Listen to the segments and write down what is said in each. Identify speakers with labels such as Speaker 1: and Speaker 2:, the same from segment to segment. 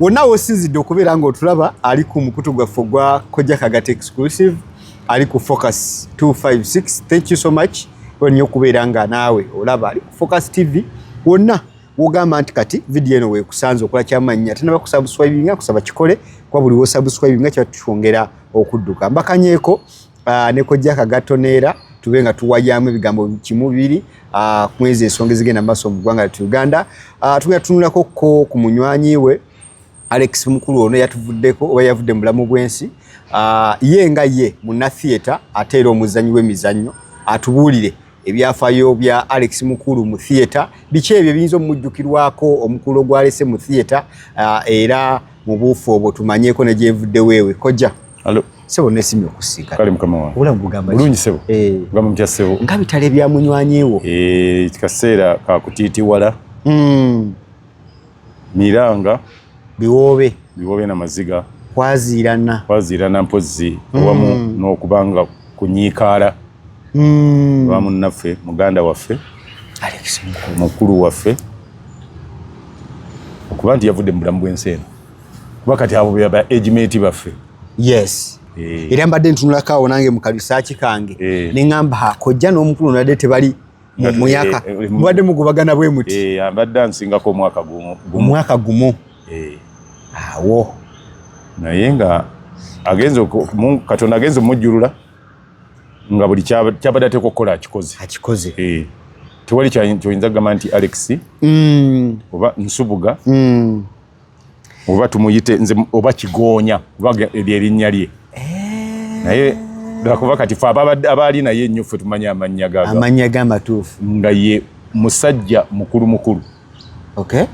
Speaker 1: wonna wosinzidde okubeera nga otulaba ali ku mukutu gwaffe ogwa kojja kagati exclusive ali ku focus 256 thank you so much olnyo okubeera nga naawe olaba ali ku focus tv wonna wogamba nti kati vidiyo eno wekusanze okola kyamannya tenaba kusabuswibinga kusaba kikole kuba buli wosabuswibinga kiba tukyongera okudduka mbakanyeeko ah, ne kojja kagatto neera tube nga tuwayamu ebigambo kimu bibiri ah, mwezi ensonga ezigenda mu maaso mu ggwanga lyatu uganda ah, tugenda tunulako ko ku munywanyi we alex mukulu ono yatuvuddeko oba yavudde mu bulamu bw'ensi ye nga ye munatheatre ate era omuzanyi w'emizannyo atubuulire ebyafayo bya Alex Mukulu mu theater biki ebyo biyinza omujjukirwako omukulu ogwalese mu theater uh, era mu buufu obwo tumanyeko ne gyevudde weewe kojja Alo. Sebo nesimye okusiika. Kale mukama wange. Obulamu bugamba
Speaker 2: ki? Bulungi sebo.
Speaker 1: Eh.
Speaker 2: Bugamba mutya sebo. Nga bitale bya
Speaker 1: munywanyewo. Eh, kikaseera
Speaker 2: ka kutiti wala. Mm. Miranga. Biwobe. Biwobe na maziga. Kwazirana. Kwazirana mpozzi. Mm. Wamu hmm. n'okubanga kunyiikaala. Mm. Wamu naffe, muganda waffe. Alex
Speaker 1: mukulu. Mukulu waffe.
Speaker 2: Okuba nti yavudde mu bulamu bw'ensi eno. kuba kati abo beba agement baffe yes
Speaker 1: eh. era mbadde ntunulako awo nange mukalisaaki kange eh. ne ŋamba ha kojja n'omukulu nadde tebali mumuyaka eh, eh, mubadde mugubagana bwe muti eh, abadde ansingako omwaka
Speaker 2: gumu omwaka gumu
Speaker 1: awo
Speaker 2: naye nga agenze katonda agenze omujjulula nga buli kyabadde ateeka okukola akikoze akikoze tewali kyoyinza kugamba nti alex mm. oba nsubuga mm. oba tumuyite nze oba kigoonya kuba ebyo erinnya lye eh. naye lwakuba kati fe abaali naye ennyo ffe tumanyi amannya gamannya gamatuufu
Speaker 1: nga ye
Speaker 2: musajja mukulu mukulu okay.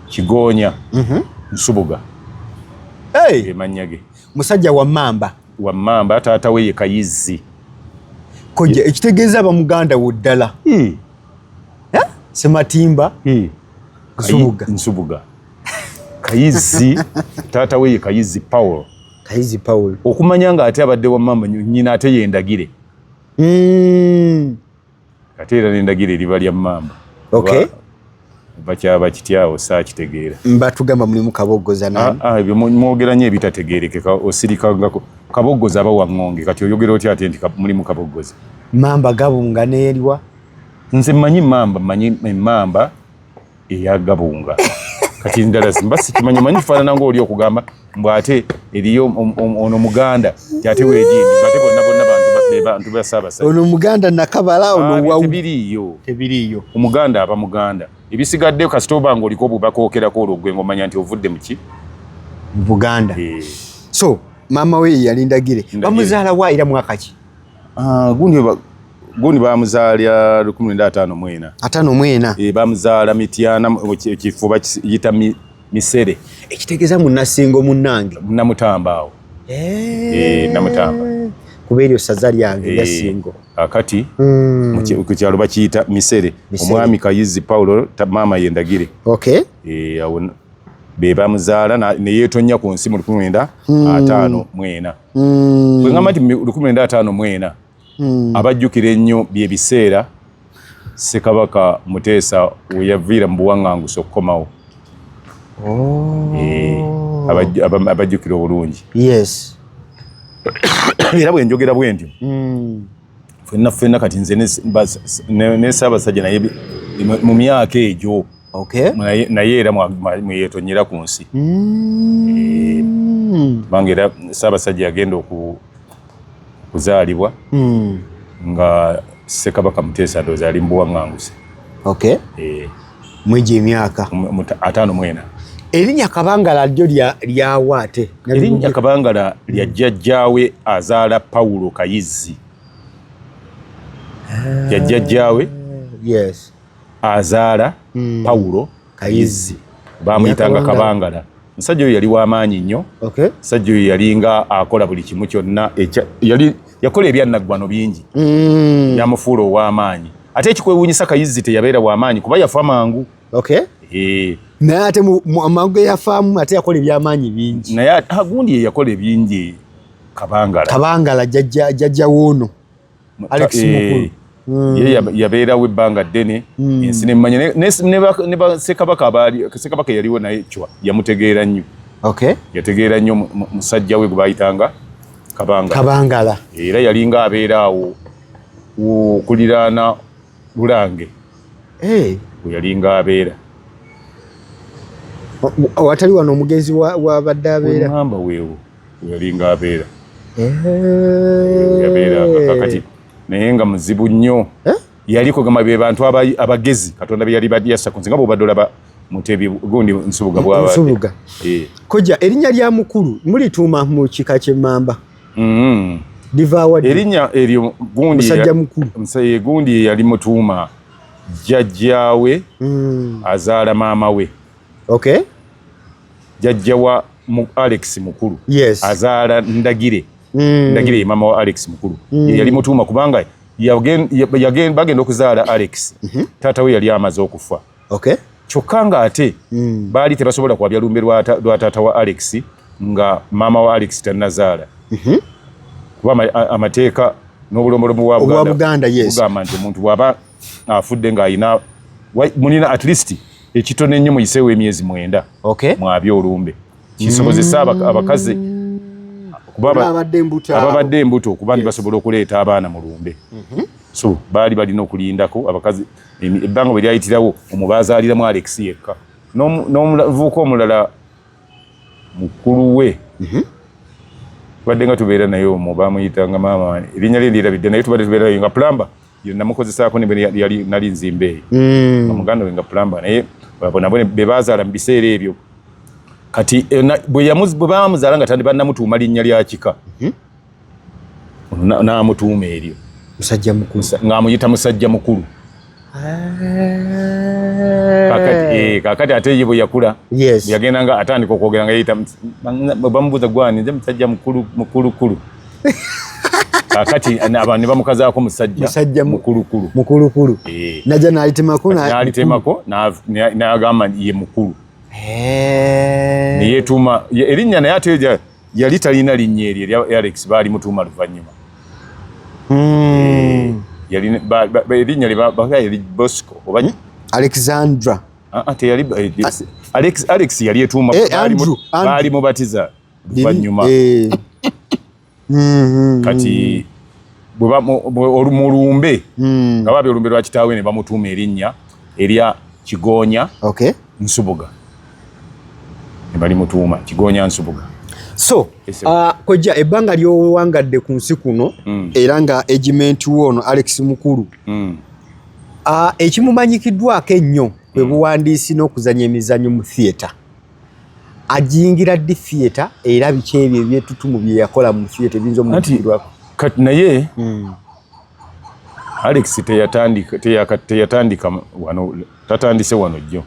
Speaker 1: kigoonya
Speaker 2: mm -hmm. nsubuga hey. emannya ge musajja wa mamba
Speaker 1: wa mamba taata we ye
Speaker 2: kayizzi
Speaker 1: kojja ekitegeeza abamuganda wo ddala hmm. sematimba hmm. Nsubuga. Nsubuga.
Speaker 2: Kayizi taata we ye Kayizi Paul. Kayizi Paul. Okumanya nga ate abadde wa mama nyina ate yendagire. Mm. Ate era nendagire liba lya mama. Okay.
Speaker 1: Ba, bakyaba
Speaker 2: kityawo saakitegeera mbatugamba mulimu
Speaker 1: kaboggoza nani ah, ah, ebyo mwogera nyo
Speaker 2: ebitategeerekeka osirikangako kaboggoza aba waŋŋonge kati oyogera otya ate nti mulimu kaboggoza mamba gabunga
Speaker 1: neeriwa nze manyi
Speaker 2: mamba manyi emamba eya gabunga kati ndala simba sikimanyi manyi fanana ngo oli okugamba mbu ate eriyo ono muganda ate wejini ate bonna bonna bantu be bantu be saba saba ono muganda nakabala
Speaker 1: ono ah, wa tebiriyo tebiriyo
Speaker 2: omuganda aba muganda ebisigadde kasitoba ngo oliko bubaka okera ko olugwe ngo manya nti ovudde muki buganda
Speaker 1: e. so mama we yalindagire bamuzala wa ira mwaka ki Ah, gundi ba
Speaker 2: gundi bamuzaalya lukumi lwenda ataano mwena ataano mwena e, eh,
Speaker 1: bamuzaala mityana
Speaker 2: ekifo bakiyita misere ekitegeeza
Speaker 1: munasingo munange namutamba awo
Speaker 2: e, namutamba kuba
Speaker 1: eryo saza lyange e, yasingo akati
Speaker 2: mm. ku kyalo bakiyita misere omwami kayizi paulo maama yendagire okay. e,
Speaker 1: awo
Speaker 2: be bamuzaala neyetonnya ku nsi mu lukumi lwenda hmm. ataano mwena mm. kwegamba nti lukumi lwenda ataano mwena mm. abajjukira ennyo byebiseera sekabaka muteesa weyaviira mu buwaŋŋangusa okukomawo oh. eh, abajjukira obulungi
Speaker 1: era
Speaker 2: bwenjogera bwentyo mm. fenna fenna kati nze ne Ssaabasajja naye mu myaka egyo
Speaker 1: naye era
Speaker 2: mweyetonyera ku nsi mm. eh, kubanga era Ssaabasajja yagenda okuzaalibwa mm. nga Ssekabaka Muteesa ndowooza ali mu buwaŋŋanguse eh.
Speaker 1: mwegyo emyaka ataano mwena
Speaker 2: erinnya
Speaker 1: kabangala lyo lyawa ate erinnya kabangala
Speaker 2: lya jjajjaawe azaala pawulo kayizzi ah, ya jjajjaawe azaala hmm. pawulo kayizzi bamuyitanga kabangala musajja oyo yali wamaanyi nnyo musajja oyo yalinga akola buli kimu kyonna yali yakola ebyannaggwano bingi mm. yamufuula ow'amaanyi ate ekikwewuunyisa kayizzi teyabeera w'amaanyi kuba yafa mangu okay. Eh. naye ate
Speaker 1: amangu geyafaamu ate yakola ebyamaanyi bingi naye agundi yeyakola
Speaker 2: ebingi
Speaker 1: kabangala
Speaker 2: kabangala
Speaker 1: jajja wuuno
Speaker 2: alex eh.
Speaker 1: mukulu Mm.
Speaker 2: ye yabeerawo ebbanga ddene mm. ensi nemmanya ne basekabaka abaali sekabaka yaliwo naye cwa yamutegeera nnyo yategeera nnyo musajja we gwe bayitanga kabangala era yalinga abeera awo okuliraana lulange eh. we yalinga abeera
Speaker 1: watali wano omugenzi wabadde abeeraamba weewo
Speaker 2: we yalinga abeera eh. yabeera kakati naye nga muzibu nnyo eh? yali kugamba be bantu abagezi katonda be yali badyasa kunsinga bwobadde olaba mutebi gundi nsubuga bwansubuga eh. koja
Speaker 1: erinnya lya mukulu mulituuma mu kika ky'emmamba mm-hmm. livaawa erinnya eryo gundimusajja
Speaker 2: mukulu musaye
Speaker 1: eh, gundi yali
Speaker 2: mutuuma jjajjaawe mm. azaala maama we okay jjajja wa Alex mukulu yes. azaala ndagire mm. ndagire mama wa Alex mukulu mm. yali mutuuma kubanga bagenda okuzaala Alex mm -hmm. taata we yali amaze okufa okay. kyokka nga ate mm. baali tebasobola kwabya lumbe lwa taata wa Alex nga mama wa Alex tanazaala mm -hmm. kuba amateeka n'obulombolomu bwa Buganda yes. nti omuntu bwaba afudde nga alina mulina at least ekitono ennyo muyiseewo emyezi mwenda okay. mwabi olumbe kisobozesa mm. abakazi ababadde embuto okuba nti basobola okuleeta abaana mu lumbe mm -hmm. so baali balina okulindako abakazi ebbanga bwe lyayitirawo omubazaaliramu alex yekka n'omuvuuka omulala mukulu we mhm. tubadde nga tubeera naye omu bamuyitanga maama erinnya lye ndirabidde naye tubadde tubeera naye nga pulamba namukozesaako nali nzimba eyo mm. nga muganda we nga pulamba naye bonabone be bazaala mu biseera ebyo kati eh, bwe bamuzaala nga tandi banamutuuma linnya lya kika mhm. n'amutuuma eryo musajja mukulu ng'amuyita musajja mukulu kakati eh, ate ye bwe yakula yagenda nga atandika okwogera nga yeyita bamubuuza gwani nze musajja mukulukulu kakati abantu ne bamukazaako musajja mukulukulu mukulukulu eh. naja nalitemako nalitemako nagamba ye mukulu eh. neyetuuma erinnya naye ate yali talina linnya eryo erya Alex baali mutuuma luvannyuma hmm. eh, erinnya lyebaga yali Bosco oba hmm? Alexandra
Speaker 1: ah, ah, teyali
Speaker 2: eh, ah. Alex Alex yali etuuma eh, baali mubatiza luvannyuma hmm, kati mu lumbe nga baabya olumbe lwa kitaawe ne bamutuuma erinnya erya Kigoonya Nsubuga bali mutuuma kigonya nsubuga so uh,
Speaker 1: kojja ebbanga lyowangadde ku nsi kuno mm. era nga egimenti wo ono alex mukulu mm. uh, ekimumanyikiddwako ennyo bwe mm. buwandiisi n'okuzanya emizanyo mu theatre ajingira ddi theatre era biki ebyo ebyetutumu bye yakola mu theatre ebiyinza omukirwako kati naye
Speaker 2: mm. alex teyatandika teyatandika wano tatandise wano jjo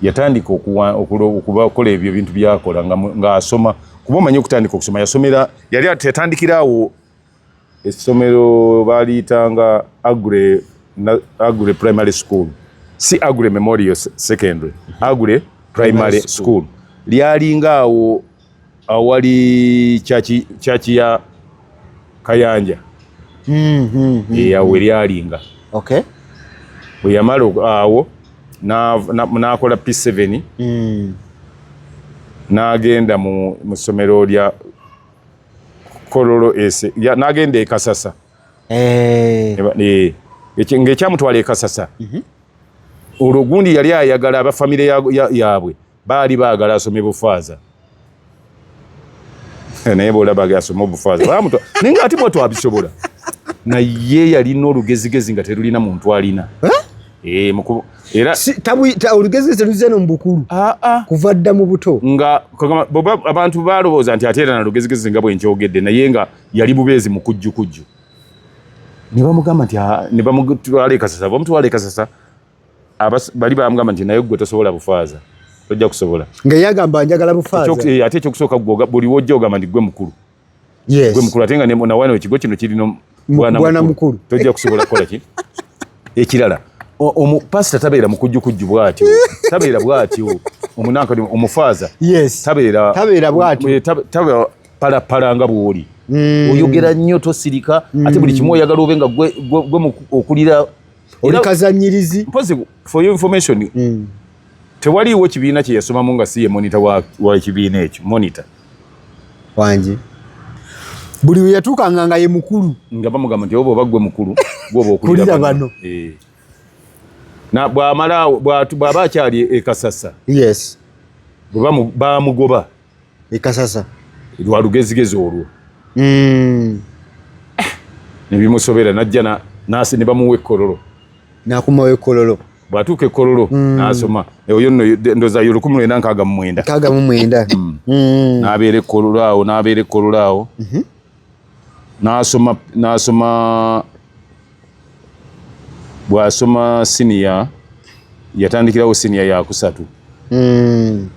Speaker 2: yatandika okubakola ebyo ebintu byakola ng'asoma kuba omanyi okutandika okusoma yasomera yali yatandikira awo essomero baaliyitanga agre agre primary school si agre memorial secondary agre primary school lyalinga awo awali church church ya Kayanja mm -hmm. ya weryalinga okay bwe yamala awo n'akola P7 mm. n'agenda mu ssomero lya Kololo ese n'agenda e Kasasa eh. eh, ng'ekyamutwala e Kasasa mm-hmm. olwo gundi yali ayagala abafamire yaabwe Baali baagala asome bufaaza naye bwolaba asome obufaaza bamuta naye nga ati bwatu abisobola naye yalina olugezigezi nga terulina muntu alina eh, era
Speaker 1: olugezigezi teruze no mubukulu ah, ah. kuva dda mu buto nga
Speaker 2: abantu balowooza nti ate era nalugezigezi nga bwenkyogedde naye nga yali bubeezi mukujjukujju nebamugamba nti ah, nebamutwala ekasasa bamutwala ekasasa abas bali bamgamba nti naye gwe tosobola bufaaza tojja kusobola nga yagamba njagala
Speaker 1: bufaaza Chok, eh, ate ekyokusooka gwoga
Speaker 2: buli wojja ogamba nti gwe mukulu yes. gwe mukulu ate nga nawana ekigo kino kirina bwana mukulu tojja kusobola kukola ki ekirala pasita tabeera mukujjukujju bwatyo tabeera bwatyo omunanka omufaaza yes. tabeera tabeera bwatyo eh, tabeera palapala nga bwoli mm. oyogera nnyo tosirika mm. ate buli kimu oyagala obe nga gwe okulira oli
Speaker 1: kazanyirizi mpozi for your
Speaker 2: information mm. tewaliwo kibiina kye yasomamu nga si ye monita wa, wa kibiina ekyo monita wangi
Speaker 1: buli weyatuukanga nga ye mukulu nga bamugamba nti oba
Speaker 2: oba gwe mukulu gwoba okulira bano eh. na bwamala bwaba akyali ekasasa yes bwebamugoba ekasasa
Speaker 1: lwa lugezigezi
Speaker 2: olwo mm. ne bimusobera najja na nasi ne bamuwa ekkololo nakumawo
Speaker 1: ekkololo bwatuuka ekkololo
Speaker 2: mm. nasoma oyo nno ndoza yo lukumi lwenda nkaaga mu mwenda nkaaga mu mwenda mm. mm. nabeera ekkololo awo nabeera ekkololo awo mm -hmm. n'asoma n'asoma bw'asoma siniya yatandikirawo siniya yakusatu hmm.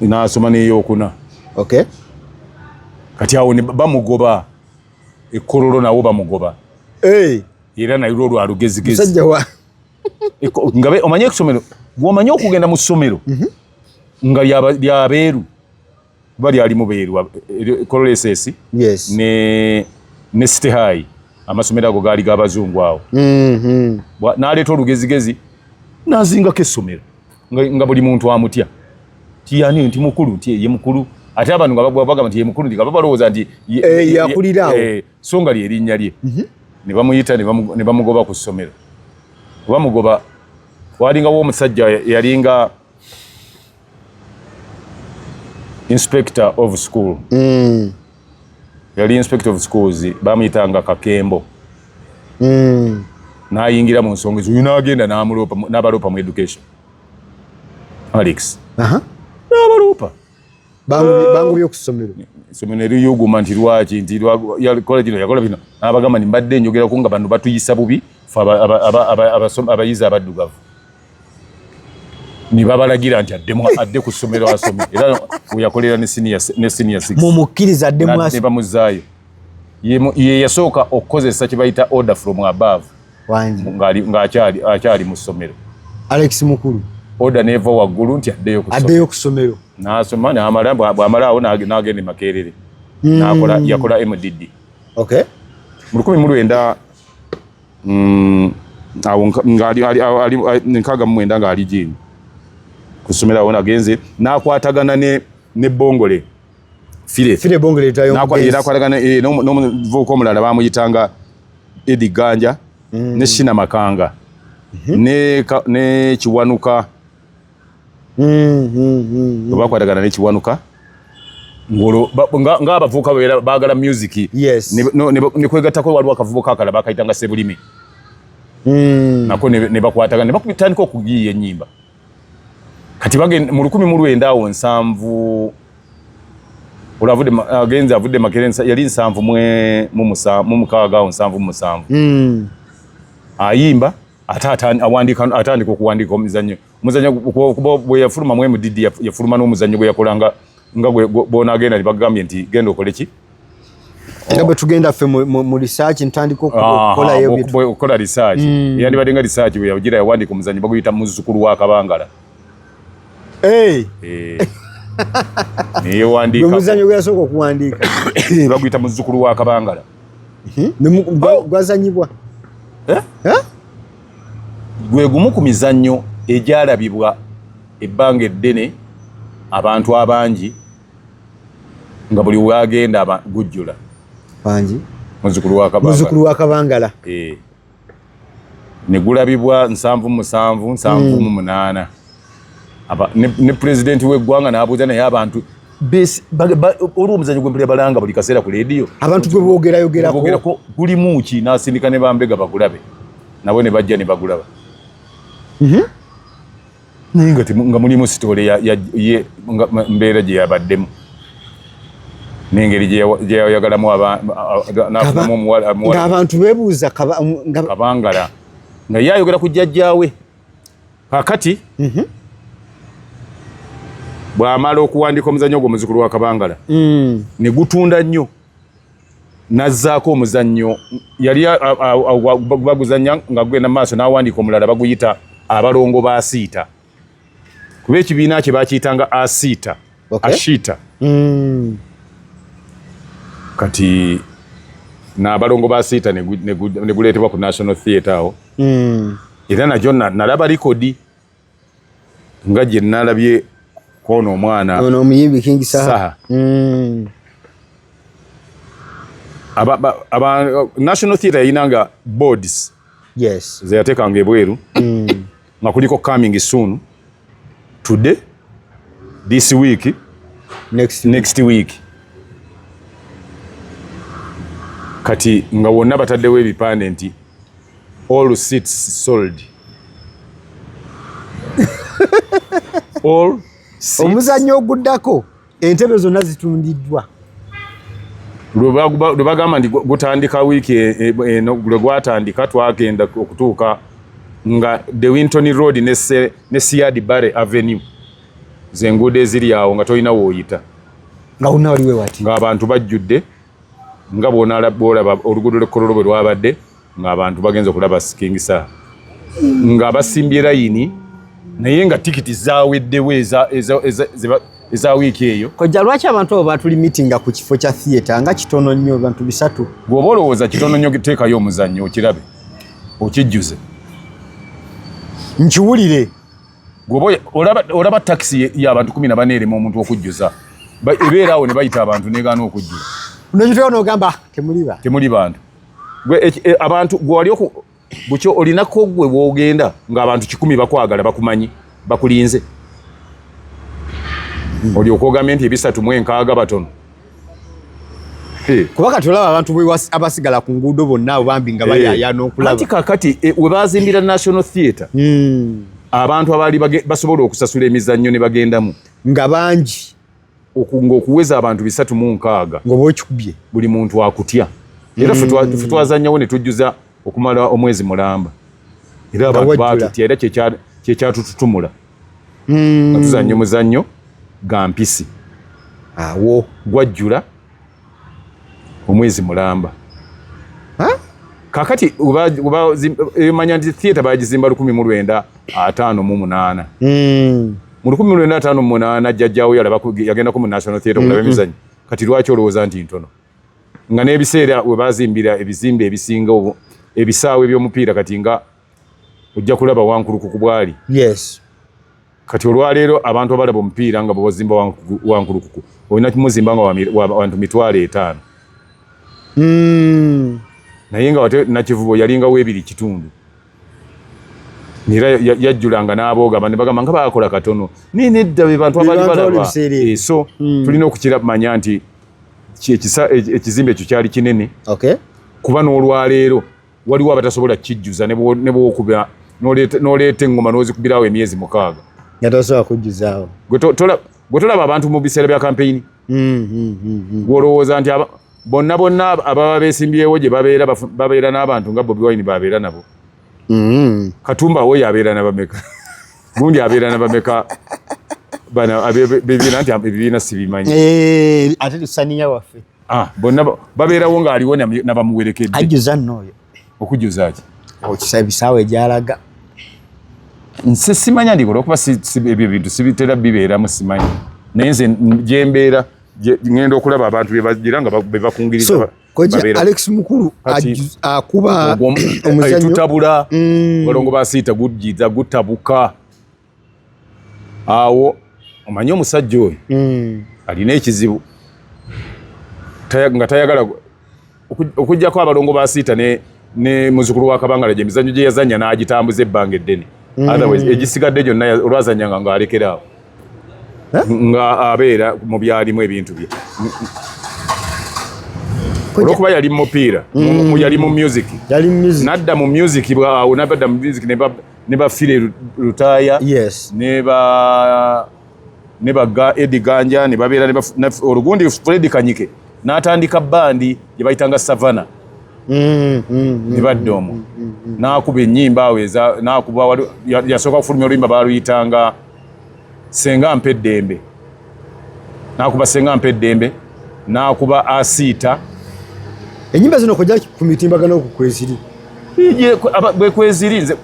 Speaker 2: n'asoma n'eyokuna kati awo bamugoba ekololo nawo bamugoba era naye lwo lwa lugezigezi nga omanyi ekusomero gwomanyi okugenda mu ssomero mhm. nga lyabeeru kuba lyali mubeerwa cololeses eh, eh, yes. ne, ne city high amasomero ago gaali gabazungu awo mm -hmm. naleeta olugezigezi nazingako essomero nga, nga buli muntu amutya tiyani nti mukulu nti ye mukulu ate abantu nga bagamba nti ye mukulu nti nga babalowooza nti eh, yakulirawo
Speaker 1: eh, so nga lyerinnya
Speaker 2: lye mhm. ne bamuyita ne bamugoba ku ssomero kubamugoba walingawo omusajja yalinga inspector of school mm. yali inspector of schools bamuyitanga kakembo mm. nayingira mu nsonga ezo uyu nagenda namuloopa nabaloopa mu education alex uh -huh. nabaloopa
Speaker 1: bangu byokusomero somero neriyuguma
Speaker 2: nti lwaki nti yakola kino yakola bino nabagamba ni mbadde njogera ku nga bano batuyisa bubi fe abayizi abaddugavu ne babalagira nti addemu adde ku ssomero asome era weyakolera ne siniya six mumukkiriza addemu
Speaker 1: ne bamuzaayo
Speaker 2: ye yasooka okukozesa kye bayita order from above ng'akyali mu ssomero alex mukulu
Speaker 1: order neeva
Speaker 2: waggulu nti addeyo addeyo ku ssomero
Speaker 1: n'asoma n'amala
Speaker 2: bw'amalaawo n'agenda e makerere hmm. n'akola yakola mdd okay
Speaker 1: mu lukumi mu
Speaker 2: lwenda mm, awo nkaaga mumwenda nga ali jini kusomera wona genze nakwatagana ne ne bongole file file bongole tayo
Speaker 1: nakwatagana eh,
Speaker 2: no no vuko mulala bamuyitanga edi ganja mm. ne shina makanga mm -hmm. ne ka, ne chiwanuka mm-hmm. bwe bakwatagana nekiwanuka ngaabavuuka era baagala musiki nekwegattako waliwo akavubuka akala bakayitanga sebulime mm. nako nebakwatagana nebakutandika okugiiya enyimba kati mu lukumi mu lwenda awo nsanvu agenze avudde makere yali nsanvu mu mukaaga awo nsanvu mu musanvu mm. ayimba ate atandika okuwandiika omuzannyo omuzannyo kuba bwe yafuluma mu mdd yafuluma n'omuzannyo gwe yakola nga nga bwonagenda ne bagambye nti genda okole ki nga
Speaker 1: bwe tugenda ffe mu risaaki ntandika okukola
Speaker 2: risaaki hmm. yandibadde nga risaaki bwe yagira yawandiika omuzannyo baguyita muzzukulu wa kabangala eh. neyewandiika omuzannyo gwe yasooka
Speaker 1: okuwandiika baguyita
Speaker 2: muzzukulu wa kabangala hmm? oh! gwazanyibwa
Speaker 1: eh?
Speaker 2: Eh? gwe gumu ku mizannyo egyalabibwa ebbanga eddene abantu abangi nga buli wagenda gujjula
Speaker 1: muzukulu
Speaker 2: wa kabangala eh. ne gulabibwa nsanvu musanvu nsanvu mu munaana ne pulezidenti w'eggwanga n'abuuza naye abantu olwo omuzanyo gwempulira balanga buli kaseera ku leediyo abantu gwe boogerayogerako
Speaker 1: gulimu ki
Speaker 2: n'asindika ne bambega bagulabe nabo ne bajja ne bagulaba mhm. naye nga nga mulimu sitoole ye mbeera gye yabaddemu n'engeri gyeyayagalamu nafunamu omuwalaabantu
Speaker 1: bebuuza kabangala
Speaker 2: nga ye ayogera ku jjajjaawe kakati mhm. bw'amala okuwandiika omuzannyo ogwo muzukulu wa kabangala mm. ne gutunda nnyo nazzaako omuzannyo yali baguzannya nga gugenda maaso n'awandiika omulala baguyita abalongo ba asiita kuba ekibiina kye bakiyitanga asiita ashiita hmm. kati nabalongo ba asiita neguleetebwa ku national theatre awo hmm. era najo nalaba likodi nga gye nnalabye kwono omwana ono omuyimbi king
Speaker 1: saha mm. aba,
Speaker 2: aba, aba national theatre yalina nga boards yes. zeyateekanga ebweru mm. nga kuliko coming soon today this week next, next week kati nga wonna bataddewo ebipande nti All seats sold. All seats. Omuzannyo oguddako
Speaker 1: entebe zonna zitundiddwa. Lwe
Speaker 2: bagamba nti gutandika wiiki e, e, e, lwe gwatandika twagenda okutuuka nga De Winton Road ne Siad Barre Avenue zenguudo eziri awo nga tolina wooyita nga wonna
Speaker 1: waliwo wati ng'abantu bajjudde
Speaker 2: nga bw'olaba oluguudo lw'ekkololo bwe lwabadde ng'abantu bagenze okulaba King Saha nga basimbye layini naye nga tikiti zaweddewo eza wiiki eyo kojja lwaki abantu abo
Speaker 1: batuli mitinga ku kifo kya theatre nga kitono nnyo bantu bisatu gweoba olowooza kitono
Speaker 2: nnyo teekayo omuzannyo okirabe okijjuze
Speaker 1: nkiwulire gweoba
Speaker 2: olaba takisi yabantu kumi na bane erema omuntu okujjuza ebeera awo ne bayita abantu negaana okujjula nokitweo nogamba
Speaker 1: temuli bantu
Speaker 2: gwe e, e, abantu gwe wali oku bukyo olinako gwe wogenda nga abantu kikumi bakwagala bakumanyi bakulinze hmm. oli okwogambye nti ebisatu mu enkaaga batono
Speaker 1: kuba kati olaba abantu abasigala ku nguudo bonna abo bambi nga bayaya n'okulaba kakati e, we
Speaker 2: bazimbira national theatre hmm. abantu abaali basobola okusasula emizannyo ne bagendamu nga bangi
Speaker 1: okunga okuweza
Speaker 2: abantu bisatu mu nkaaga ngoba okikubye
Speaker 1: buli muntu akutya
Speaker 2: era mm. futwazanyawo ne tujjuza okumala omwezi mulamba era abantu batutya era kyekyatututumula mm. atuzanyo muzanyo gampisi awo
Speaker 1: gwajjula
Speaker 2: omwezi mulamba kakati emanya nti theatre bagizimba lukumi mu lwenda ataano mu munaana hmm. mu lukumi mu lwenda ataano mu munaana jjajjawo yagendako mu national theatre okulaba hmm. emizanyo kati lwaki olowooza nti ntono nga n'ebiseera we bazimbira ebizimbe ebisinga ebisaawo ebyomupiira kati nga ojja kulaba wankuluku ku bwali yes kati olwaleero abantu abalaba omupiira nga bwebazimba wankulukuku olina kimuzimba nga wantu mitwalo etaano hmm. naye nga wate nakivubo yalinga webiri kitundu era yajjulanga n'abooga bane bagamba nga bakola katono naye nedda be bantu abali balaba eh, so hmm. tulina okukiramanya nti ekizimbe ekyo kyali kinene kuba n'olwaleero waliwo abatasobola kijjuza nebwokuba noleeta engoma nozikubirawo emyezi mukaaga natasobola
Speaker 1: kujjuzaawo
Speaker 2: gwe tolaba abantu mu biseera bya kampeyini mm, mm, mm, gwolowooza nti bonna bonna ababa besimbyewo gye babeera n'abantu nga bobi wine babeera nabo katumba woyo abeera nabameka gundi abeera nabameka bana bebiina nti ebibiina sibimanyi eh, ate
Speaker 1: tusaniya waffe Ah, bonna
Speaker 2: babeerawo ng'aliwo nabamuwerekedde ajjuza nno oyo
Speaker 1: okujjuza ki
Speaker 2: okisa ebisaawa
Speaker 1: egyalaga
Speaker 2: nse simanya ndiko olwokuba ebyo bintu sibitera bibeeramu simanyi naye nze gyembeera ngenda okulaba abantu bebajira nga bebakungiriza koja alex
Speaker 1: mukulu akuba omuzanyo tutabula
Speaker 2: mm. balongo basiita gujjiza gutabuka awo omanyi omusajja oyo hmm. alina ekizibu nga tayagala okujjako abalongo ba siita ne muzukulu wa kabangala gye mizanyo gye yazanya n'agitambuza ebbanga eddene hmm. otherwise egisigadde gyonna olwazanyanga ng'alekeraawo eh? nga abeera mu byalimu ebintu bye olwokuba yali mu mupiira hmm. yali mu music nadda mu music bwawo nabadda mu music ne ba file lutaya yes ne ba ne ba ga edi ganja ne babera ne ba olugundi fred kanyike natandika bandi gye bayitanga savana mm, mm, ne mm, badde omu mm, mm, mm. nakuba ennyimba awo eza nakuba yasooka kufulumya oluyimba baluyitanga senga mpa eddembe nakuba senga mpa eddembe nakuba asiita
Speaker 1: enyimba zino kojja ku mitimbagano ku kweziri
Speaker 2: bwe kweziri nze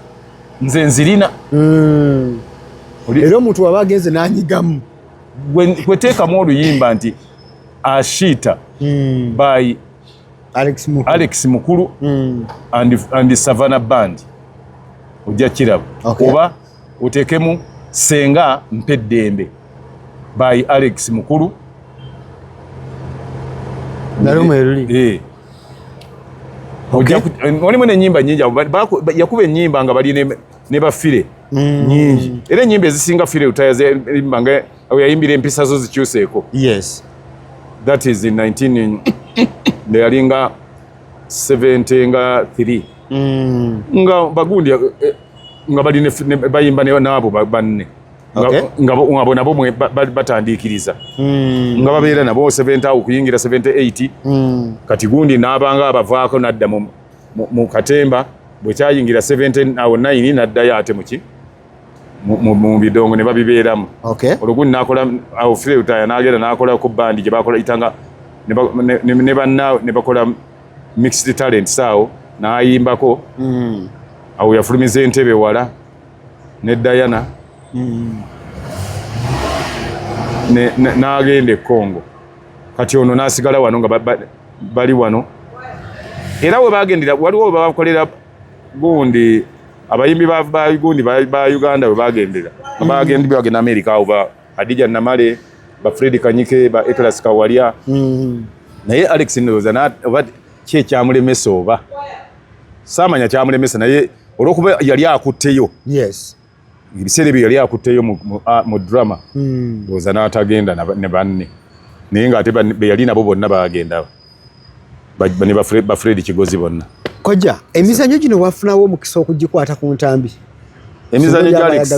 Speaker 2: nze nzirina hmm. era
Speaker 1: omuntu waba agenze
Speaker 2: nanyigamu
Speaker 1: kweteekamu
Speaker 2: oluyimba nti ashiita hmm. by alex mukulu hmm. and savana band ojja kiraba oba otekemu senga mpe ddembe by Alex Mukulu
Speaker 1: eh.
Speaker 2: olimu nenyimba nyingi yakuba enyimba nga bali ne bafire mm. nyingi era enyimba ezisinga fire utayaimba nga yayimbira empisa zo zikyuseeko
Speaker 1: that is
Speaker 2: in 19 ndeyalinga 70 nga 3 mm. nga bagundi eh, eh, nga bali bayimba naabo banne nga bona bo batandiikiriza hmm. nga babeera nabo 70 awo kuyingira 78 hmm. kati gundi n'abanga abavaako n'adda mu katemba bwe kyayingira 7 awo 9 n'addayo ate muki mu bidongo ne babibeeramu olwo gundi nakola awo fireutaya n'agenda n'akola ku bandi gye bakola itanga ne banna ne bakola mixed talent saawo n'ayimbako mm. awo yafulumiza entebe wala ne Diana mm. n'agenda e Congo kati ono n'asigala wano nga bali wano era we bagendera waliwo we babakolera gundi abayimbi ba gundi ba Uganda we bagendera mm. bagenda bagenda Amerika awo Adija Namale ba Fred Kanyike ba Eklas Kawalya mm. naye Alex Ndoza na oba kye kyamulemesa oba samanya kyamulemesa naye olwokuba yali akutteyo yes
Speaker 1: ebiseera ebyo
Speaker 2: yali akutteyo mu, mu, a, mu drama mm. oza n'atagenda ne banne naye ng'ate beyali nabo bonna bagenda ne ba Fred Kigozi bonna kojja emizanyo
Speaker 1: gino wafunawo omukisa okugikwata ku ntambi emizanyo
Speaker 2: gya Alex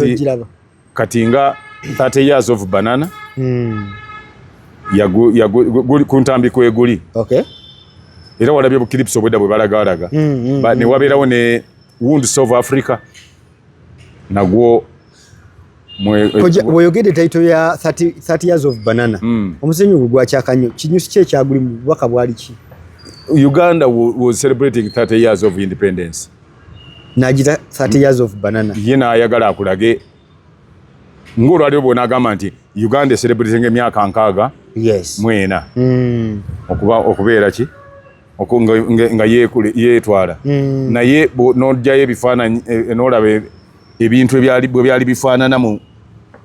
Speaker 2: kati nga 30 years of banana mm. yagu, yagu, guli, kuntambi kweguli okay. era walabye bukilipsi obwedda bwe balagalaga mm, mm, mm. newabeerawo ne wounds of africa nagwo
Speaker 1: bweyogedde taito ya 30, 30 years of banana mm. omusenyi ogwo gwakyakanyo kinyusi ki ekyagulimu bubaka bwali ki uganda
Speaker 2: was celebrating 30 years of independence najita
Speaker 1: 30 years of banana ye nayagala akulage
Speaker 2: ngolwaliro bwona agamba nti uganda eserebulizinga emyaka nkaaga yes. mwena
Speaker 1: mm.
Speaker 2: okuba okubeera ki nga yetwala mm. naye nojayo ebifaananyi e, e, nolaba e, ebintu bwe byali bifaanana mu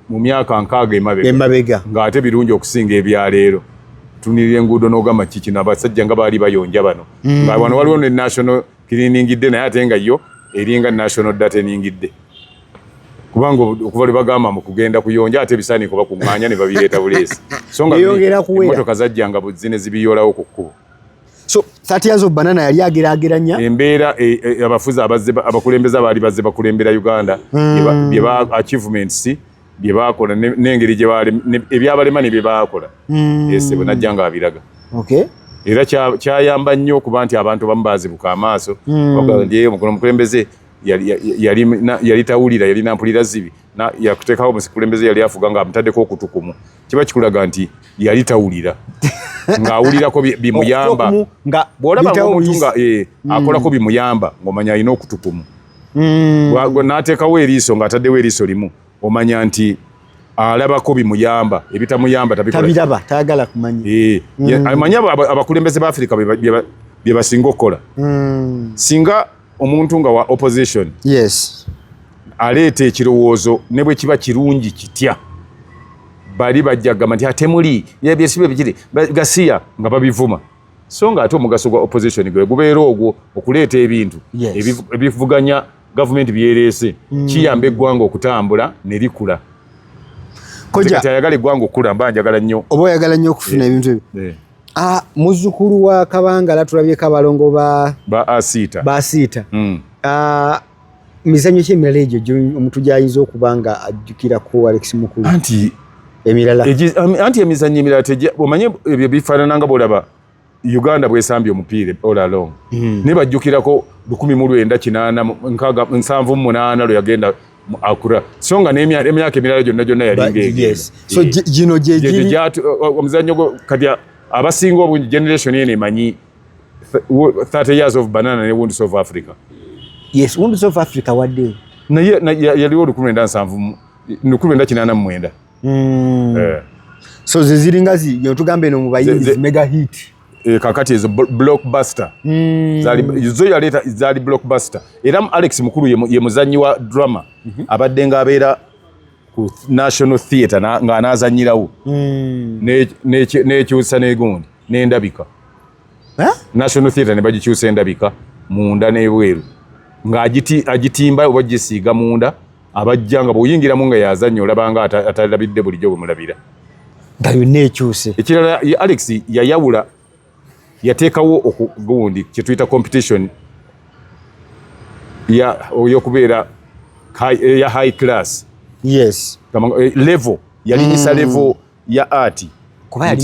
Speaker 2: myaka nkaaga emabega ngaate birungi okusinga ebyaleero tunirira enguudo nogamba kikino abasajja nga baali bayonja bano mm. nga wano waliwo ne national kiriningidde naye ate nga yo eringa national data eningidde kubanga okuva lwe bagamba mu kugenda kuyonja ate ebisaaniiko bakuŋŋaanya ne babireeta buleesi so nga emmotoka zajjanga zine zibiyolawo ku kkubo so
Speaker 1: 30 years of banana yali agerageranya embeera e,
Speaker 2: e, abafuzi abakulembeze abaali bazze bakulembera uganda hmm. bye ba achievements bye baakola n'engeri gye baali ebyabalema ne bye baakola hmm. ese bwe najja nga abiraga era kyayamba nnyo okuba nti abantu bamu baazibuka amaaso hmm. bagamba nti omukono omukulembeze yali tawulira yali nampulira zibi yakuteekawo omukulembeze yali afuga nga amutaddeko okutukumu kiba kikulaga nti yali tawulira ng'awulirako bimuyamba bw'olaba omuntu nga eh, hmm. akolako bimuyamba ng'omanya alina okutukumu mm. n'ateekawo eriiso ng'ataddewo eriiso limu omanya nti alabako bimuyamba ebitamuyamba tabiraba tayagala
Speaker 1: kumanya eh, mm. amanyi
Speaker 2: abakulembeze ba afirika bye basinga okukola mm. singa omuntu nga wa opposition yes aleeta ekirowoozo ne bwe kiba kirungi kitya bali bajja kugamba nti atemuli yebyesibe bikiri gasiya nga babivuma so nga ate omugaso gwa opposition gwe gubeera ogwo okuleeta ebintu ebivuganya gavumenti byereese hmm. kiyamba eggwanga okutambula ne likula ayagala eggwanga okukula mba njagala nnyo oba oyagala nnyo okufuna eh,
Speaker 1: ebintu ebyo eh. ah, muzukulu wa kabangala tulabyeko abalongo ba asiita hmm. ah, mizanyo ki emirala egyo omuntu gyayinza okuba nga ajjukirako alex mukulu anti emirala anti
Speaker 2: emizanyo emirala tejja omanye ebyo bifaanana nga bwolaba uganda bwesambye omupiira all along hmm. naye bajjukirako lukumi mu lwenda kinaana nkaaga nsanvu mu munaana lwe yagenda akura so nga n'emyaka emirala gyonna gyonna yalingaegino
Speaker 1: gyegiri omuzanyo
Speaker 2: kati abasinga obungi generation eno emanyi 30 years of banana ne wounds of africa yes wounds
Speaker 1: of africa wadde naye yaliwo
Speaker 2: olukumi lwenda nsanvu lukumi lwenda kinaana mu mwenda
Speaker 1: hmm. eh. so ze ziringa zitugamba eno mu bayinzi mega hit eh, kakati ezo
Speaker 2: blockbuster hmm. zo yaleeta zaali blockbuster era alex mukulu ye muzannyi wa drama mhm. abadde ng'abeera ku National Theatre nga anazanyirawo hmm. nekyusa negundi nendabika National Theatre ne bagikyusa endabika munda n'ebweru nga agitimba oba gisiiga munda abajja nga bw'oyingiramu nga yazannya olabanga atalabidde bulijjo bwe mulabira nga yonna
Speaker 1: ekyuse ekirala alex
Speaker 2: yayawula yateekawo gundi kyetuyita competition yokubeera ya high class yes eh,
Speaker 1: level
Speaker 2: yalinyisa mm. level ya art kuba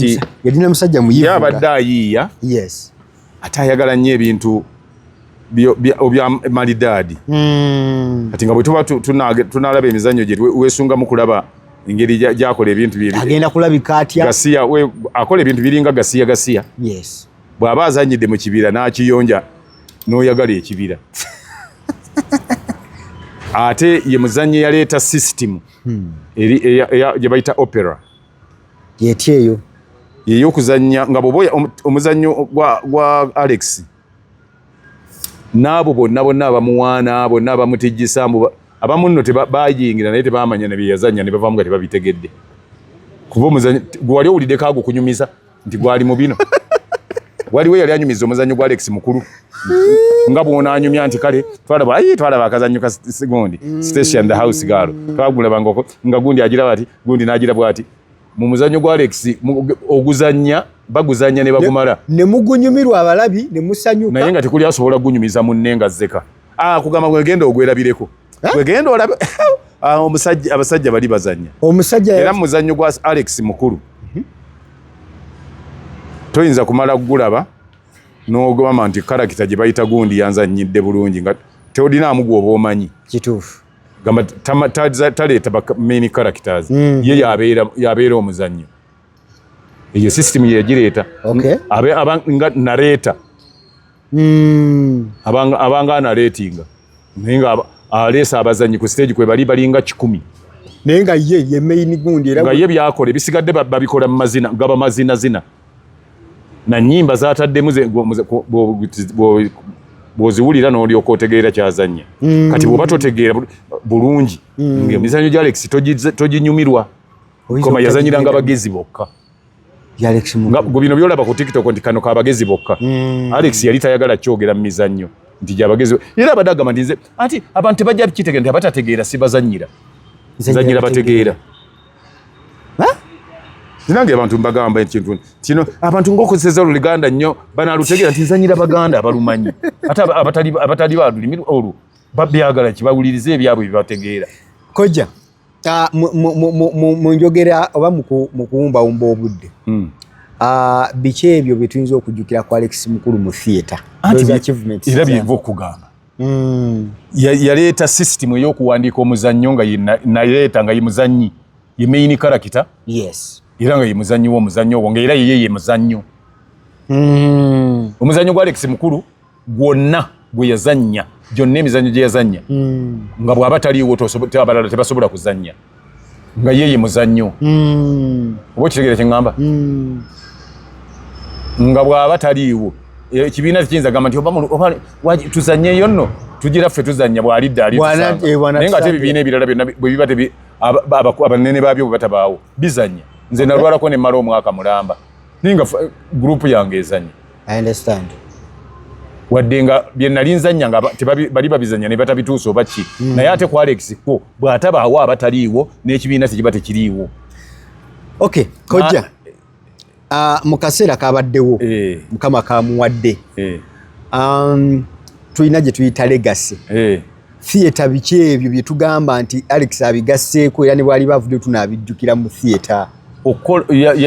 Speaker 1: yalina musajja muyivu yabadde ayiiya
Speaker 2: yes
Speaker 1: ate ayagala
Speaker 2: nnyo ebintu obya malidaadi hmm. kati nga bwe tuba tunalaba emizannyo gye weesungamu kulaba engeri gyakola ebintu agenda kulabika atya
Speaker 1: gasiya
Speaker 2: akola ebintu biringa gasiya gasiya
Speaker 1: bw'aba azanyidde
Speaker 2: mu kibira n'akiyonja n'oyagala ekibira ate ye muzannyi yaleeta sisitimu hmm. gye bayita opera yetya
Speaker 1: eyo yeyo okuzannya
Speaker 2: nga bwoba omuzannyo gwa alex naabo bonna bonna abamuwaana bonna abamutijjisa mbu abamu nno bayingira naye tebamanya nebyeyazannya nebavaamu nga tebabitegedde kuba omuzannyo gwewali owuliddeko ago kunyumiza nti gwali mu bino waliwo yali anyumiza omuzannyo gwa Alex mukulu nga bwona anyumya nti kale twalaba ayi twalaba akazannyo ka gundi mm. station the house girl twagulaba ngoko nga gundi agira bati gundi nagira bwati mu muzannyo gwa Alex oguzannya baguzannya ne bagumala ne mugunyumirwa
Speaker 1: abalabi ne musanyuka naye nga tekuli asobola
Speaker 2: gunyumiza munne nga zeka ah kugamba gwegenda ogwerabireko wegenda eh? olabe ah, omusajja abasajja bali bazanya omusajja era muzanyo gwa Alex mukulu mhm. toyinza kumala kugulaba n'ogamba nti karakita gye bayita gundi yanzanyidde bulungi nga teodinaamu gwoba omanyi kituufu
Speaker 1: gamba
Speaker 2: taleeta bamain characters mm. ye yabeera omuzannyo eyo system yegireeta nga nareeta mm. abanga, abanga analetinga naye nga aleesa abazanyi ku stage kwe bali balinga kikumi naye nga ye
Speaker 1: ye main gundi era nga ye byakola ebisigadde
Speaker 2: babikola mu mazina gaba mazina zina na nyimba zataddemu bwoziwulira nolyoka otegeera kyazanya mm. kati bwoba totegeera bulungi mm. emizanyo gya alex toginyumirwa koma yazanyiranga bagezi bokka gwe bino byolaba ku tiktok nti kano kabagezi bokka mm. alex yali tayagala kyogera mu mizannyo nti gyabagezi era abadde agamba nti nze anti abantu tebajja kitegera nti abatategeera sibazanyira zanyira bategeera nange abantu mbagamba ekintu kino abantu ngaokozeseza oluganda nnyo banalutegeera nti nzanyira baganda abalumanyi ate abatali balulimi olwo babyagala kibawulirize ebyabwe bibategeera kojja
Speaker 1: Ah, mu njogera oba mu kuwumbawumba obudde hmm. ah, biki ebyo bye tuyinza okujjukira ku alex mukulu mu theatre era
Speaker 2: byenva okugamba hmm. yaleeta sisitimu ey'okuwandiika omuzannyo nga naleeta nga ye muzannyi ye main karakita era
Speaker 1: nga ye muzannyi
Speaker 2: w'omuzannyo obwo nga era yeye ye muzannyo hmm. omuzannyo gwa alex mukulu gwonna gwe yazannya gyonna emizannyo gye yazannya hmm. nga bw'aba taliiwo abalala tebasobola kuzannya nga ye ye muzannyo hmm. oba okitegeera kye ŋŋamba hmm. nga bw'aba taliiwo e, ekibiina tekiyinza gamba nti tuzannyeyo nno tugira ffe tuzannya bw'alidde alinaye eh, nga ate ebibiina ebirala byonna bwe biba abanene baabyo bwe batabaawo bizannya nze nalwalako ne mmala omwaka mulamba naye nga eh, gurupu yange ezannya I understand. wadde nga bye nali nzannya nga bali babizannya ne batabituusa oba ki mm. naye ate ku alex ko bw'atabaawo abataliiwo n'ekibiina tekiba tekiriiwo
Speaker 1: okay kojja uh, mu kaseera kabaddewo eh. mukama kamuwadde eh. um, tulina gye tuyita legasi eh. theatre biki ebyo bye tugamba nti Alex abigasseeko era ne bwali bavudde tunaabijjukira mu theatre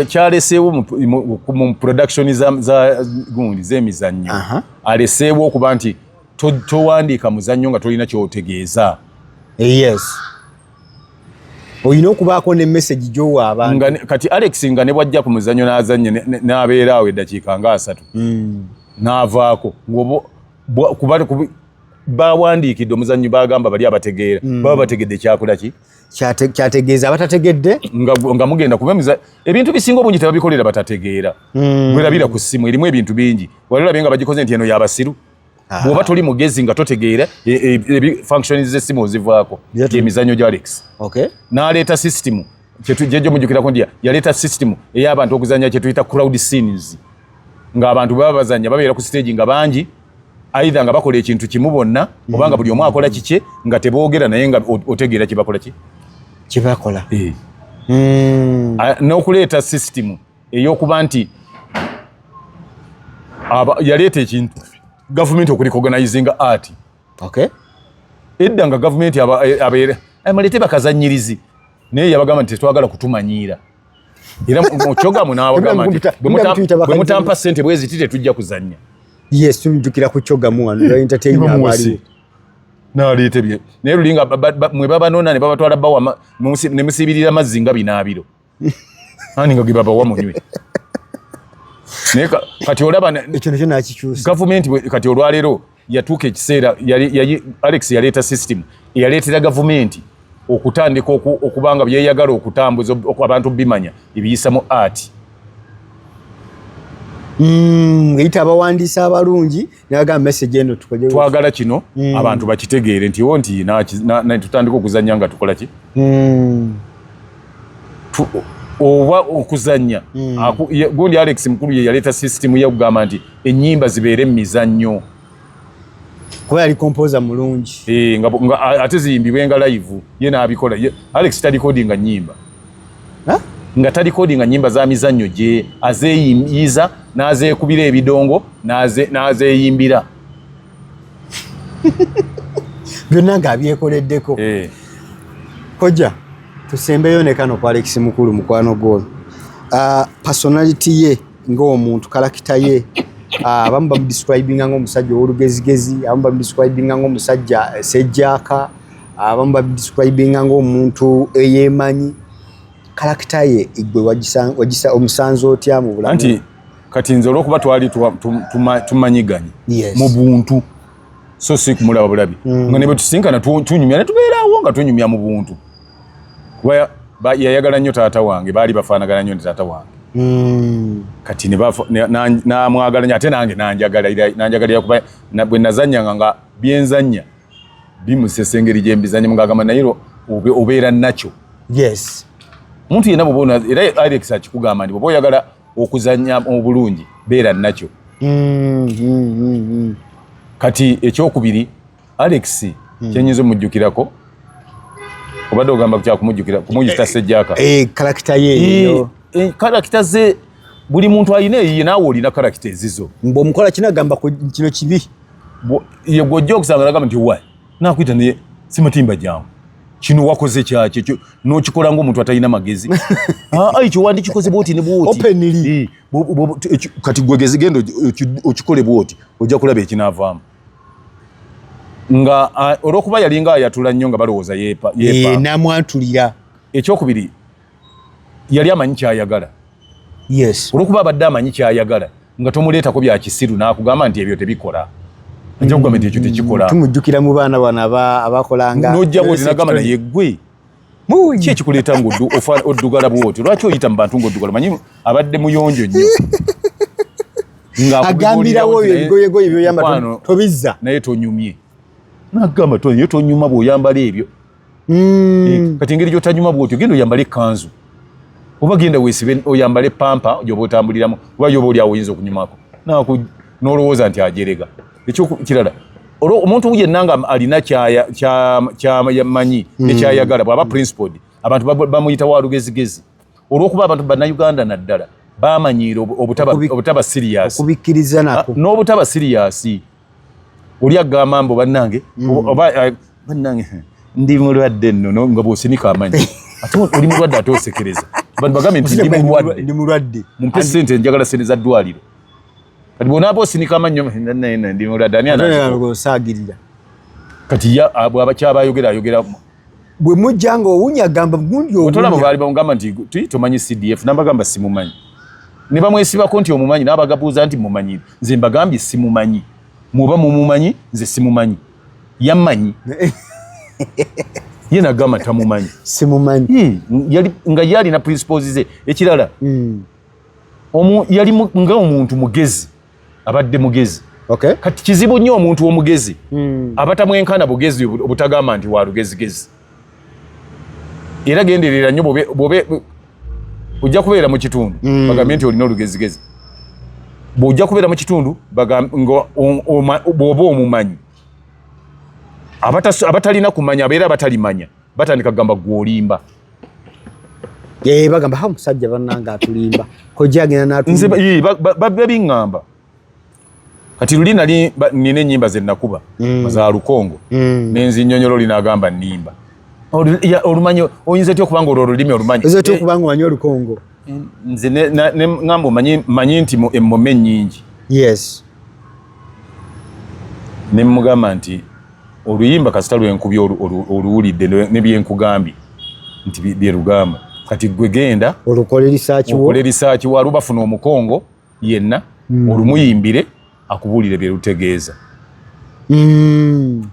Speaker 1: kyaleseewo mu production gundi z'emizannyo aleseewo okuba nti towandiika muzannyo nga tolina kyotegeeza eh, yes olina okubaako ne message gyowa abantu kati alex nga ne
Speaker 2: bwajja ku muzannyo n'azannye n'abeeraawo eddakiika nga asatu hmm. n'avaako kuba bawandiikidde omuzannyi bagamba bali abategeera mm. baba bategedde kyakola ki kyategeeza
Speaker 1: abatategedde nga mugenda
Speaker 2: kuba ebintu bisinga obungi tebabikolera batategeera mm. bwerabira ku ssimu erimu ebintu bingi wali olabye nga bagikoze nti eno yabasiru ah. bwoba toli mugezi nga totegeera e, e, e, function z'essimu ozivaako emizannyo gya alex n'aleeta sisitimu kyetujjajo mujukirako nti yaleeta system ey'abantu okuzanya kyetuyita crowd scenes ng'abantu baba bazanya babeera ku stage nga bangi aidha nga bakola ekintu kimu bonna obanga buli omu akola kikye nga teboogera naye nga otegeera kyebakola ki kyebakola eh.
Speaker 1: hmm. ah,
Speaker 2: n'okuleeta system ey'okuba nti yaleeta ekintu gavumenti okuli koganizinga art okay edda nga gavumenti eh, abeere eh, mulete bakazanyirizi naye yabagamba nti tetwagala kutumanyiira era mukyogamu nawagamba nti bwe mutampa sente bwezi ti tetujja kuzanya yes tujukira
Speaker 1: kukyogamu wano entertainment naleeta
Speaker 2: ebye naye lulinga mwe babanona ne babatwala bawa ne musibirira mazzi nga binaabiro ani nga ge babawa munywe naye kati olaba ekyo nakyo nakikyusa
Speaker 1: gavumenti kati olwaleero
Speaker 2: yatuuka ekiseera alex yaleeta system eyaleetera gavumenti okutandika okubanga byeyagala okutambuza abantu bimanya ebiyisamu art hmm, ngeyita abawandiisi abalungi twagala kino mm. abantu bakitegeere nti wo nti tutandika okuzanya nga tukola ki mm. oba okuzanya mm. gundi alex mukulu ye yaleeta sisitimu yokugamba nti enyimba zibeere mumizannyo
Speaker 1: kuba yali kompoza mulungi eh, ate
Speaker 2: ziyimbibwe nga live ye nabikola alex talikodinga nyimba nga talikodi nga nyimba za mizannyo gye azeeyiyiza n'azeekubira ebidongo n'azeeyimbira
Speaker 1: byonna nga abyekoleddeko eh. kojja tusembeyo ne kano ku alekisi mukulu mukwano gwono ah, personality ye ng'omuntu kalakita ye ah, abamu bamudiscribinga ng'omusajja ow'olugezigezi abamu bamudiscribinga ng'omusajja eh, sejjaaka abamu babidescribinga ngaomuntu eyemanyi kalakita ye igwe wagisa omusanze otya mu bulamu anti kati nze
Speaker 2: olwokuba twali tumanyiganye mu buntu so si kumulaba bulabi mm. nga nebetusinkana tunyumya netubeerawo nga tunyumya mu buntu kuba yayagala nnyo taata wange baali bafaanagana nnyo ne taata wange mm. kati namwagala nyo ate nange nanjagalira kuba bwe nazanyanga nga byenzanya bimusesa engeri gyembizanye mugagamba naye obeera nakyo yes
Speaker 1: muntu yena
Speaker 2: bwobona era alex akikugamba nti bwoba oyagala okuzanya obulungi beera nakyo mm, mm, mm, kati ekyokubiri alex kyenyinza omujjukirako obadde ogamba kyakumujjukira kumuyita eh, sejjaka eh, karakita yeyo
Speaker 1: eh, karakita
Speaker 2: ze buli muntu alina eyiye naawe olina karakita ezizo mbu omukola kinagamba
Speaker 1: kino kibi ye
Speaker 2: gwojja okusanga nagamba nti wa nakuyita naye simatimba jangu kino wakoze kyakye nokikola ngaomuntu atalina magezi ah, ah, ekyo wandikikoze bwoti ne bwoti kati gwegezi genda okikole bwoti ojja kulaba ekinavaamu nga ah, olwokuba yalinga ayatula nnyo nga balowooza yepa eh, namwatulira
Speaker 1: ekyokubiri
Speaker 2: yali amanyi kyayagala yes
Speaker 1: olwokuba abadde amanyi
Speaker 2: kyayagala nga tomuleetako bya kisiru n'akugamba nti ebyo tebikola ajja kugamba nti ekyo tekikola tumujjukira mu baana
Speaker 1: bano abakolanga nojja bwotinagamba
Speaker 2: naye gwe ki ekikuleeta nga oddugala bwoti lwaki oyita mu bantu ngaoddugala manyi abadde muyonjo nnyo
Speaker 1: agambirawo oyo ebigoyegoye byoyamba tobizza naye tonyumye
Speaker 2: nagamba tonyuma bwoyambala ebyo mm. eh, kati engeri gyotanyuma bwotyo genda oyambale ekanzu oba genda wesibe oyambale pampa gyoba otambuliramu oba yoba oli awo oyinza okunyumako naku nolowooza nti ajerega ekyokirala olwo omuntu yenna nga alina kyamanyi hmm. nekyayagala bwaba principled abantu bamuyita wa lugezigezi olwokuba abantu bannayuganda naddala bamanyiira obutaba siriyasi ah,
Speaker 1: n'obutaba siriyasi
Speaker 2: oli agamba mbu bannange mm. oba eh, bannange ndi mulwadde ennono nga bwosinika amanyi ate oli mulwadde ate osekereza bantu bagambe nti ndi mulwadde mumpe sente njagala sente za ddwaliro kati bwonaaba osinika amannyo ndi mulwadde ani anasaagirira
Speaker 1: kati
Speaker 2: bwaba kyabayogera ayogera bwe mujja
Speaker 1: nga owunya agamba gundi otolaba baali bamugamba
Speaker 2: nti tomanyi cdf nabagamba simumanyi ne bamwesibako nti omumanyi nabagabuuza nti mumanyi nze mbagambye simumanyi muba mumumanyi nze simumanyi yamanyi ye nagamba tamumanyi simumanyi hmm,
Speaker 1: yali nga ye
Speaker 2: alina principles ze ekirala hmm. omu yali nga omuntu mugezi abadde mugezi okay. kati kizibu nnyo omuntu omugezi mm. abatamwenkana bugezi obutagamba nti walugezigezi era genderera nnyo bobe ojja kubeera mu kitundu mm. bagambye nti olina olugezigezi bwojja kubeera mu kitundu bwoba omumanyi abatalina kumanya abeera abatalimanya batandika kugamba gwolimba Eh,
Speaker 1: bagamba ha musajja bananga atulimba kojja agenda natulimba nze
Speaker 2: babiŋŋamba kati luli nali nina ennyimba ze nakuba mm. za lukongo mm. nenzi nnyonyolo linagamba nnimba olumanyi oyinza otya okubanga olwo olulimi olumanyi oyinza otya eh, okubanga omanyi
Speaker 1: olukongo eh, nze
Speaker 2: ngamba manyi nti emmome nnyingi yes ne mugamba nti oluyimba kasita lwenkubye oluwulidde nebyenkugambye nti byerugamba kati gwe genda olukole risaaki waliwo bafuna omukongo yenna hmm. olumuyimbire akubuulire byerutegeeza hmm.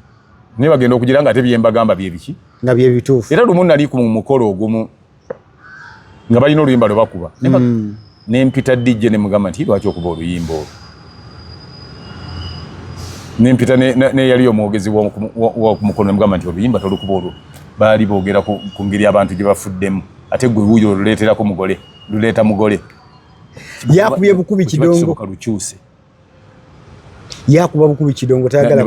Speaker 2: naye bagenda okugira nga ate byembagamba byebiki nga byebituufu
Speaker 1: era lumu nali ku mukolo
Speaker 2: ogumu nga balina oluyimba lwe bakuba mm. ne mpita DJ ne mugamba nti lwaki okuba oluyimba olwo ne mpita ne yali omwogezi wa ku mukono ne mugamba nti oluyimba tolukuba olwo baali boogera ku ngeri abantu gye bafuddemu ate gwe wuyo oluleeterako mugole luleeta mugole
Speaker 1: yakubye bukubi kidongo lukyuse
Speaker 2: yakuba
Speaker 1: bukubi kidongo tayagala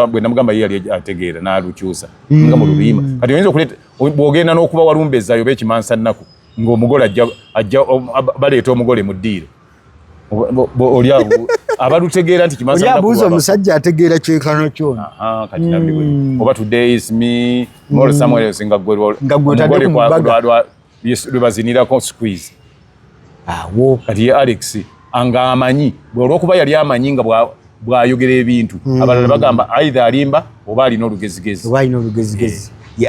Speaker 2: bwe namugamba ye yali ategeera n'alukyusa nga mu lubiyima hmm. kati oyinza okuleeta bw'ogenda n'okuba walumbezaayo oba ekimansa nnaku ng'omugole ajja baleeta omugole mu ddiiro oli awo abalutegeera nti kimansabuuza omusajja ategeera
Speaker 1: kyenkano kyona kati nabbi
Speaker 2: hmm. oba today is me mol hmm. somewhere else nga gwe nga gwe otadde ku
Speaker 1: mbaga lwebazinirako
Speaker 2: squeeze awo
Speaker 1: kati ye alex
Speaker 2: anga amanyi olwokuba yali amanyi nga bwayogera ebintu hmm. abalala bagamba aidha alimba oba alina olugezigezi eh.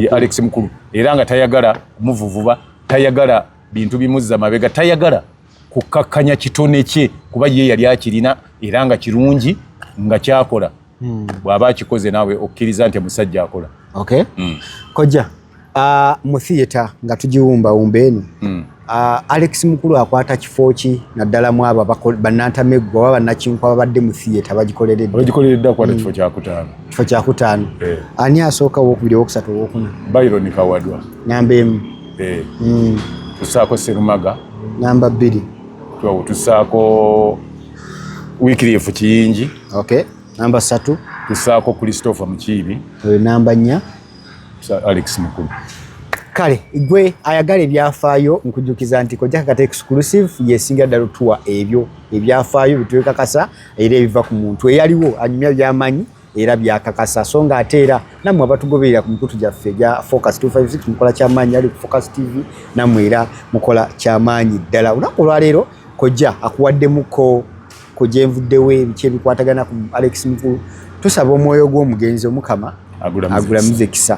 Speaker 2: ye alex mukulu era nga tayagala muvuvuba tayagala bintu bimuzza mabega tayagala kukkakkanya kitone kye kuba ye yali akirina era nga kirungi nga kyakola hmm. bw'aba akikoze naawe okkiriza nti musajja akola okay. mm.
Speaker 1: kojja uh, mu theatre nga tugiwumbawumba eno mm. uh, alex mukulu akwata kifo ki naddala mu abo bannantameggo oba bannakinku ababadde mu theatre bagikolereddakwata
Speaker 2: hmm. kifo kyakutaano kifo kyakutaano eh. ani asooka owokubiri owokusatu owokuna byron kawadwa namba emu
Speaker 1: eh. hmm.
Speaker 2: tusaako serumaga namba bbiri
Speaker 1: tusaako
Speaker 2: wikirifu kiyingi Okay. Namba
Speaker 1: satu tusaako Christopher
Speaker 2: Mukiibi. Oyo namba nnya
Speaker 1: Alex
Speaker 2: Mukulu. Kale
Speaker 1: gwe ayagala ebyafaayo nkujukiza nti kojja kakata exclusive yesinga ddala otuwa ebyo ebyafaayo bitwekakasa era ebiva ku muntu eyaliwo anyumya byamanyi era byakakasa so nga ate era nammwe abatugoberera ku mikutu gyaffe gya focus 256 mukola kyamaanyi ali ku focus tv nammwe era mukola kyamaanyi ddala olunaku olwaleero kojja akuwaddemuko ku gyenvuddewo ebiki ebikwatagana ku alex mukulu tusaba omwoyo gw'omugenzi omukama agulamize kisa